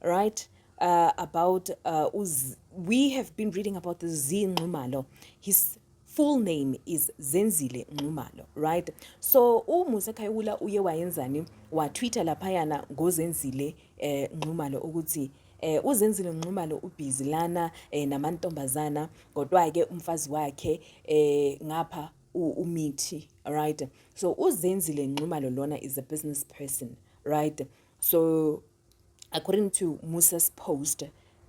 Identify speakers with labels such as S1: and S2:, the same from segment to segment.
S1: right uh, about uh, uz we have been reading about the Z Nxumalo his full name is Zenzile Nxumalo right so uMusa Khayula uye wayenzani wa Twitter laphayana ngoZenzile eh, Nxumalo ukuthi eh uzenzile nqumalo ubhizi lana eh, namantombazana kodwa ke umfazi wakhe eh ngapha umithi right so uzenzile nqumalo lona is a business person right so According to Musa's post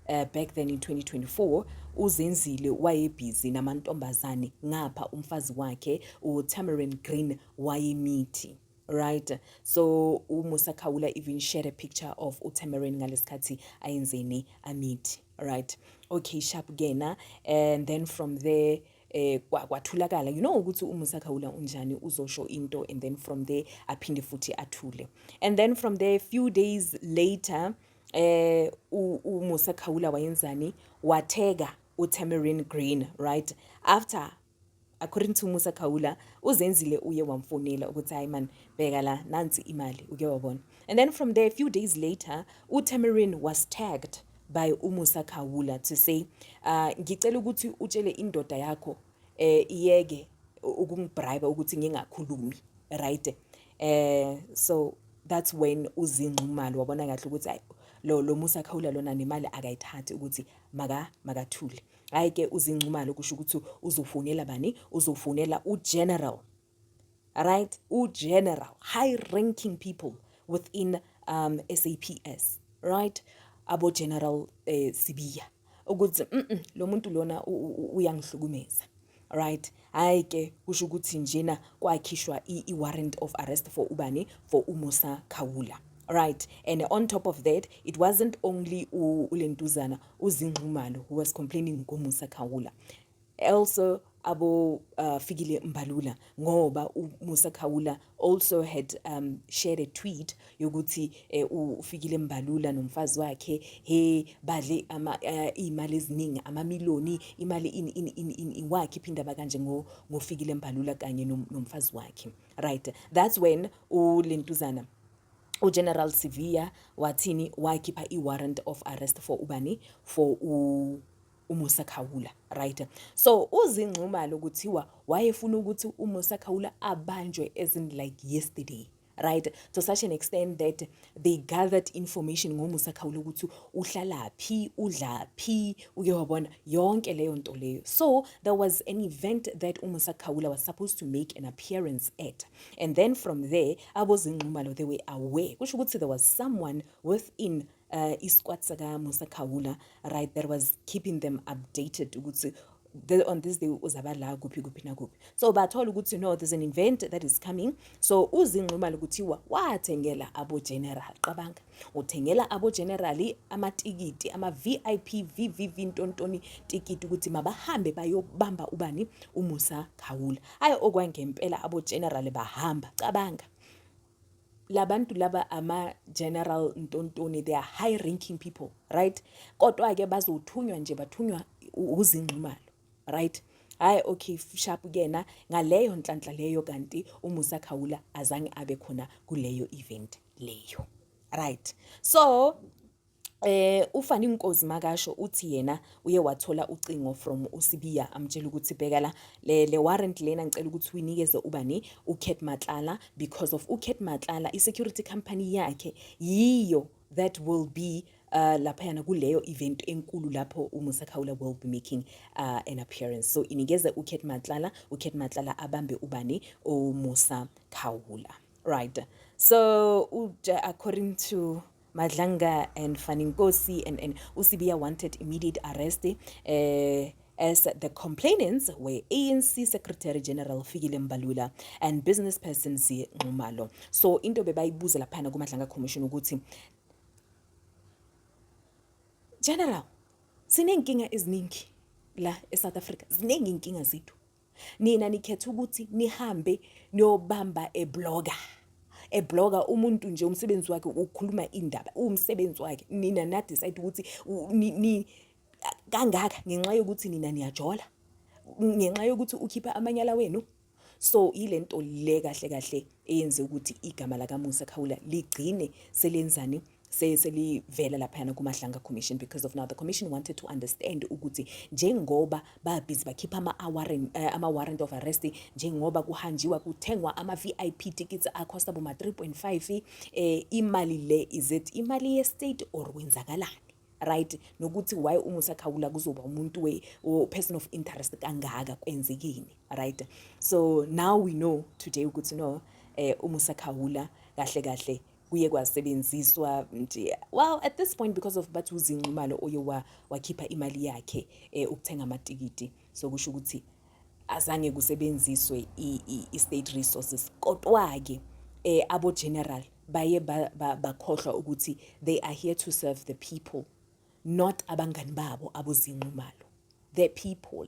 S1: uh, back then in 2024 uzenzile wayebhizi namantombazane ngapha umfazi wakhe uTamarin Green wayemithi right so umusa khawula even share a picture of utamarin ngalesikhathi ayenzeni amithi right okay sharp kena and then from there eh kwathulakala you know ukuthi umusa khawula unjani uzosho into and then from there aphinde futhi athule and then from there few days later eh umusa khawula wayenzani watheka uTamarin Green right after according to Musa Khawula uzenzile uye wamfonela ukuthi hayi man bheka la nansi imali uke wabona and then from there a few days later uTamarin was tagged by uMusa Khawula to say uh, ngicela ukuthi utshele indoda yakho eh iyeke ukungibribe ukuthi ngingakhulumi right eh so that's when uzinxumalo wabona kahle ukuthi hayi lo lo Musa Khawula lona nemali akayithathi ukuthi maka makathule hayi ke uzinxumalo kusho ukuthi uzofonela bani uzofonela uGeneral right ugeneral high ranking people within um SAPS right abo general eh, sibiya ukuthi mm -mm, lo muntu lona uyangihlukumeza right hayi ke kusho ukuthi njena kwakhishwa i-warrant of arrest for ubani for umusa khawula right and on top of that it wasn't only ulentuzana uzinxumalo who was complaining ngomusa khawula also abo uh, fikile mbalula ngoba umusa khawula also had um, shared a tweet yokuthi eh, ufikile mbalula nomfazi wakhe he badle ama uh, imali eziningi amamiloni imali in in in, in, in wakhe phinda bakanje ngo ngofikile mbalula kanye nom, nomfazi wakhe right that's when ulentuzana uGeneral Sivia wathini wakhipha iwarrant of arrest for ubani for u uMusa Khawula right so uzinxumalo kuthiwa wayefuna ukuthi uMusa Khawula abanjwe as in like yesterday right to such an extent that they gathered information ngomusa khawula ukuthi uhlala phi udla phi uke wabona yonke leyo nto leyo so there was an event that umusa khawula was supposed to make an appearance at and then from there abozingxumalo they were aware kusho ukuthi there was someone within uh, isikwat sakamusa khawula right that was keeping them updated ukuthi the, on this day uzaba la kuphi kuphi nakuphi so bathola ukuthi no there's an event that is coming so uzinxumala ukuthiwa wathengela abogeneral qabanga uthengela abogenerali amatikiti ama-vip vvv ntontoni tikiti ukuthi mabahambe bayobamba ubani umusa khawula hhayi okwangempela abogenerali bahamba cabanga labantu laba ama general ntontoni they are high ranking people right kodwa ke bazothunywa nje bathunywa uzingxumalo right hayi okay sharp kuyena ngaleyo nhlanhla leyo kanti umusa khawula azange abe khona kuleyo event leyo right so Eh ufani inkozi makasho uthi yena uye wathola ucingo from uSibiya amtshela ukuthi bheka la le, le warrant lena ngicela ukuthi uyinikeze ubani uCat Matlala because of uCat Matlala isecurity company yakhe yiyo that will be uh, laphayana kuleyo event enkulu lapho umusa khawula will be making uh, an appearance so inikeze ucat matlala ucat matlala abambe ubani umusa khawula right so according to Madlanga and Faninkosi and, and Usibiya wanted immediate arrest eh as the complainants were ANC Secretary General Fikile Mbalula and business person Zie Nxumalo. So into bebayibuza laphana kuMadlanga Commission ukuthi General sinenkinga eziningi la eSouth Africa ziningi inkinga zethu nina nikhetha ukuthi nihambe niyobamba ebloga ebloga umuntu nje umsebenzi wakhe ukukhuluma indaba uwumsebenzi wakhe nina na decide ukuthi ni kangaka ngenxa yokuthi nina niyajola ngenxa yokuthi ukhipha amanyala wenu so ile nto le kahle kahle eyenze ukuthi igama lakamusa khawula ligcine selenzani selivela laphayana kumahlanga commission because of now the commission wanted to understand ukuthi njengoba babhizi bakhipha ama-warrant uh, eh, ama-warrant of arrest njengoba kuhanjiwa kuthengwa ama-vip tickets acosta boma 3.5 eh, imali le is it imali ye-state or kwenzakalani right nokuthi why uma usakhawula kuzoba umuntu we or person of interest kangaka kwenzekini right so now we know today ukuthi no eh uma usakhawula kahle kahle kuye kwasebenziswa nje well at this point because of bathi uzinxumalo oye wakhipha imali yakhe eh, ukuthenga amatikiti so kusho ukuthi azange kusebenziswe i-state resources kodwa-ke eh, abo-general baye bakhohlwa ba, ba ukuthi they are here to serve the people not abangani babo abozinxumalo the people